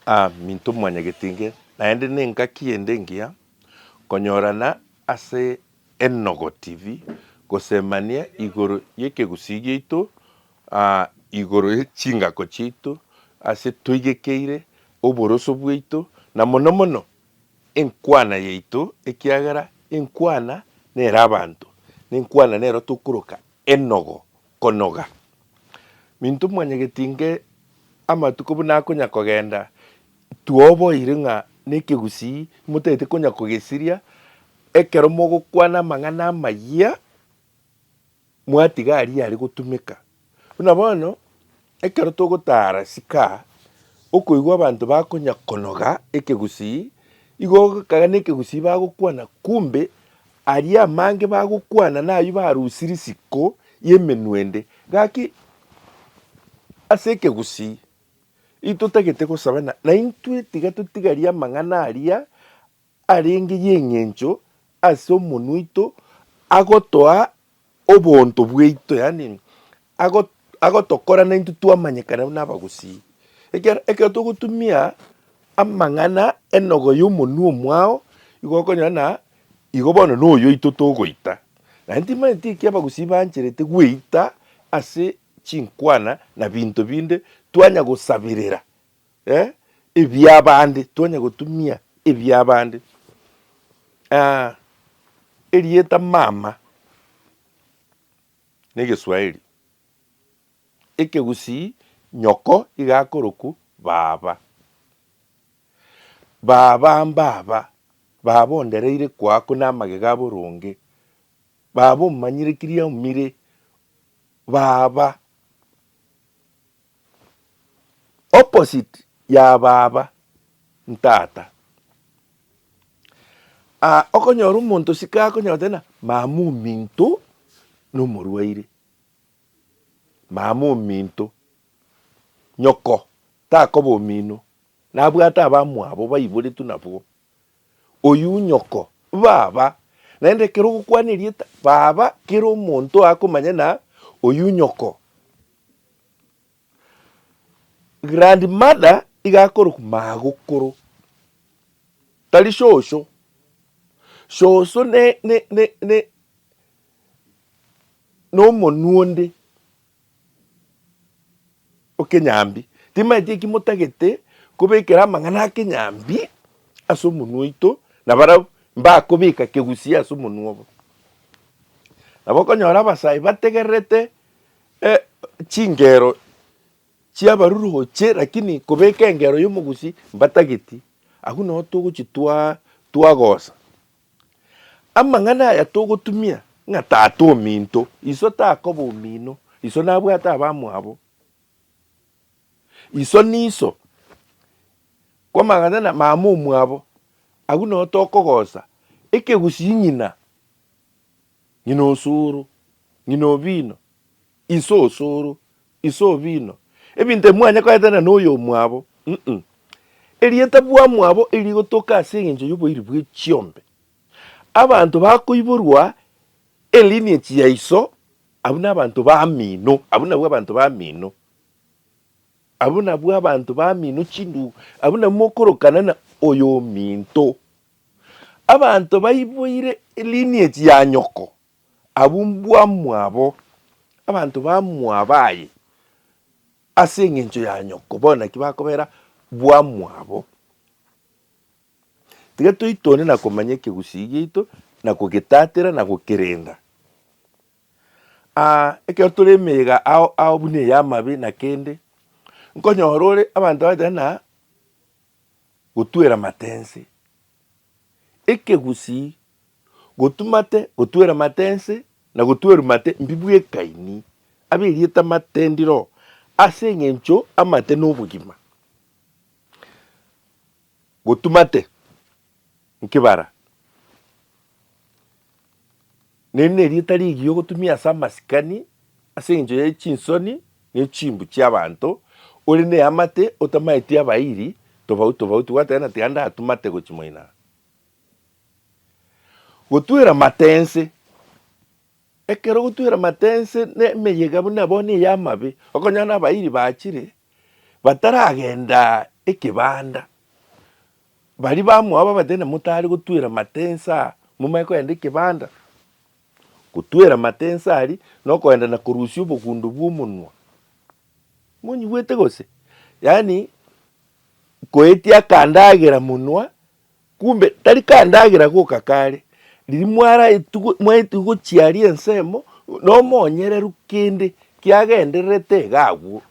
A minto mwanyagetinge, naende nengaki ende engiya konyorana ase Enogo TV gosemania igoro yekegusii giaito, a igoro ye chingako chiaito ase toigekeire, oboroso bwaito, na mono mono enkwana yaito, ekiagera enkwana nere abanto, nenkwana nero tokoroka Enogo konoga. Minto mwanyageti inge amatuko buna akonya kogenda, twoboire ng'a nekegusii motagete konya kogesiria ekero mogokwana amang'ana amayia mwatiga aria are gotumeka. Buna bono. Ekero togotaara sika, okoigwa abanto bakonya konoga ekegusii, igo ogokagana ekegusii bagokwana kumbe aria amange bagokwana nayio barusirie siko y'emenwende. Gaki ase ekegusii intotagete gosaba na naintwe tiga totigarie amang'ana aria arenge y'engencho ase omonwa oito, agotoa obonto bwaito, yaani agotokora naintwe twamanyekana buna abagusii. Ekiagera ekero togotumia amang'ana enogo y'omonwa omwao, igo okonyora buna igo bono noyo oito togoita. Naende timanyeti ekio abagusii baancherete gweita ase chinkwana na binto binde twanya gosaberera. eh, ebiabande, twanya gotumia ebiabande ah, erieta mama negeswahili, ekegusii nyoko iga akorokwa baba. Baba mbaba, baba ondereire kwaku na amagega aboronge, baba omanyire kiria omire, baba. Opposite ya baba ntata. Aa okonyora omonto osike akonyora goteba ng'a mama ominto nomorwaire, mama ominto nyoko takoba omino nabwate abamwabo baiboretwe nabwo. Oyio nyoko, Baba. Naende ekero ogokwana erieta, Baba, kera omonto akomanya na oyio nyoko. Grandmother iga akorokwa magokoro, tari shosho. Shosho ne, ne, ne, ne, nomonwa onde. Okenyambi. Timaeti eki motagete kobekera amang'ana akenyambi ase omonwa oito, na barabwo mbakobeka kegusii ase omonwa obo. Nabo okonyora abasayi bategererete chingero chiabaruruche lakini kobeka engero yomogusii mbatageti. Agwo nabo togochitwaa twagosa Amang'ana aya togotumia ng'a tata ominto, iso takoba omino, iso nabwate abamwabo, iso niso kwamang'ana na mama omwabo, agwo nao tokogosa ekegusii ng'ina, ng'ina osoro, ng'ina obino. Inse osoro, inse obino, ebinto ebi mwanyakoeta na noyo omwabo, mm, erieta bwamwabo eri rigotoka ase engencho y'oboiri bwe chiombe. Abanto bakoiborwa elineage ya iso, abwo nabanto bamino, abwo nabwo abanto bamino, abwo nabwo abanto bamino chindugu, abwo nabwo mokorokana na oyominto. Abanto baiboire elineage ya nyoko. abwo mbwamwabo, abanto bamwabo aye, ase engencho ya nyoko, bono naki bakobera bwamwabo. Tiga toitone na komanya ekegusii giaito, na kogetatera na gokerenda. Aa ekero tore emeyega ao ao buna eye amabe na kende, nkonyora ore abanto abachete na gotwera matense. Ekegusii gotumate, gotweramate ense, na gotwerumate mbi bw'Ekaini, ab'erieta matendiro, ase engencho amate nobogima, gotumate nkebara, ne nerieta rigiya gotumia ase amasikani ase engencho ya chinsoni ne chimbu chi'abanto, ore neamate otamaeti abairi tobauti tobauti, gwategerana tiga ndatumate gochia moino aa. Gotwera amate ense. Ekero ogotwera amate ense na emeyega buna bono eye amabe, okonyora na abairi bachire bataragenda ekebanda, baria bamoa babate na motare gotwera amate ense aa momanye kogenda ekebanda. Gotwera amate ense aria na okogenda na korusia obogundo bwa omonwa. Monyigwete gose? Yaani koetia akandagera monwa Kumbe tari kandagera goka kare, riria mwaraetigwe, mwaetigwe gochiaria ensemo na omonyereru kende kiagendererete iga agwo,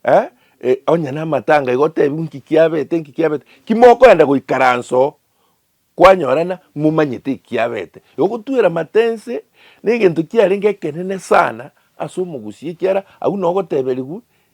eh, eh, onye namatanga iga otebiwe inki kiabete, inki kiabete, ki mokoenda goikaransa oo kwanyorana momanyete eki kiabete. Igo gotwera amate ense na egento kiarenge ekenene sana ase omogusii ekiara agwo na ogoteberigwa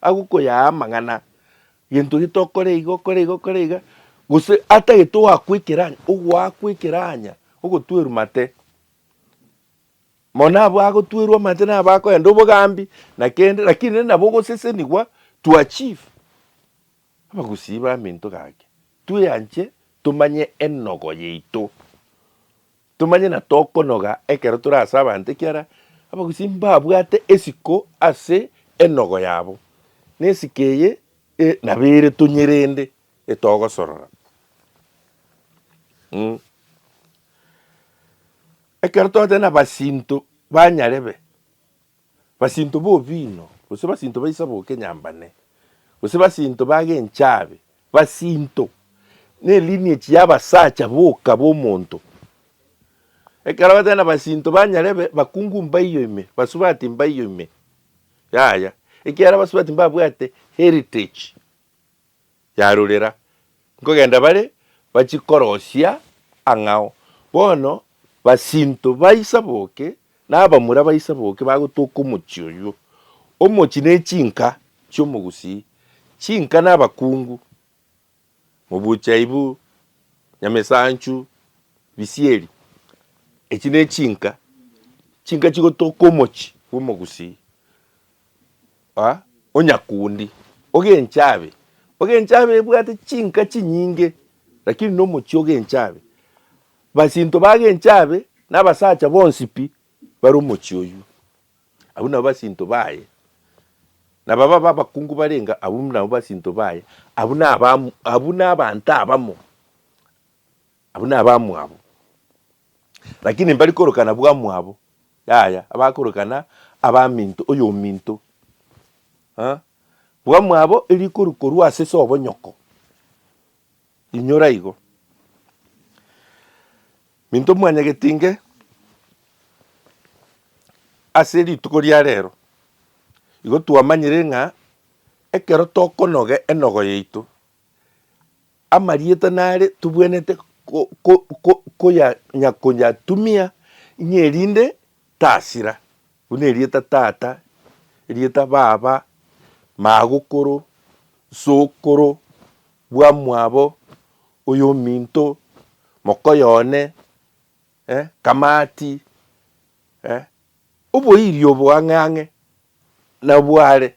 Agwo koyaya amang'ana, gento ki tokore igo, kore igo, kore iga, gose atagete oakwekera anya, ogoakwekera anya, ogotwerwa mate. Mono abwo agotwerwa amate nabo akoenda obogambi na kende, lakini nabo ogosesenigwa to achieve. Abagusii baminto gake, tweanche tomanye enogo yaito, tomanye na tokonoga ekero tore ase abanto ekiara abagusii mbabwate esiko ase enogo yabo, na esiko eye nabo ere tonyerende etogosorora. Mh. Ekero togoteba nabasinto banyarebe. basinto b'obino, gose basinto baisa b'okenyambane, gose basinto b'agenchabe, basinto nelineage y'abasacha boka b'omonto. Ekero batari nabasinto banyare babe bakungu mbaiyo ime, basubati mbaiyo ime, yaya, ekiagera abasubati mbabwate heritage. yarorera, nkogenda bare bachie korosia ang'ao. Bono basinto baisa boke, na abamura baisa boke bagotoka omochie oyio. Omochie ne chinka chi'omogusii, chinka na abakungu, Mobuchaibu, Nyamesanchu, Bisieri. Echi ne chinka, chinka chigotoka omochie bw'omogusii. onyakundi, ogenche abe. Ogenche abe ebwate chinka chinyinge, rakini nomochie ogenche abe. Basinto bagenche abe, nabasacha bonsi pi bare omochie oywo. Abwo nabo basinto baye. Naba baba abakungu barenge abwo nabo basinto baye, abwo naba abwo nabanto abamo. Abwo nabamwabo, lakini mbari korokana bwamwabo, yaya, abakorokana abaminto, oyominto, eh, bwamwabo erikorwa korwa ase se obonyoko. Inyora igo. Minto mwanyagetinge ase rituko ria rero, igo twamanyire ng'a ekero tokonoga enogo yaito, amarieta nare tobwenerete konyatumia ng'a erinde tasira, buna erieta tata, erieta baba, magokoro, sokoro, bwamwabo, oyominto, mokoyo one, kamati, oboiri obo ang'e ang'e Nabware,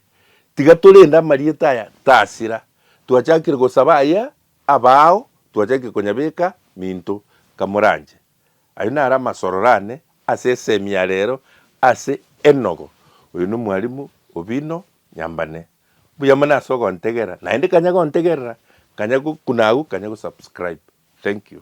tiga torende amarieta aya tasira, twachakire gosaba aya abao twachakire konyabeka minto kamoranche. Ayio naro amasororo ane ase esemi ya rero ase enogo. Oyo nomwarimu obino nyambane. Mbuya mono ase ogontegera naende kanya gontegerera, kanya gokuna agwo, kanya gosubscribe. Thank you.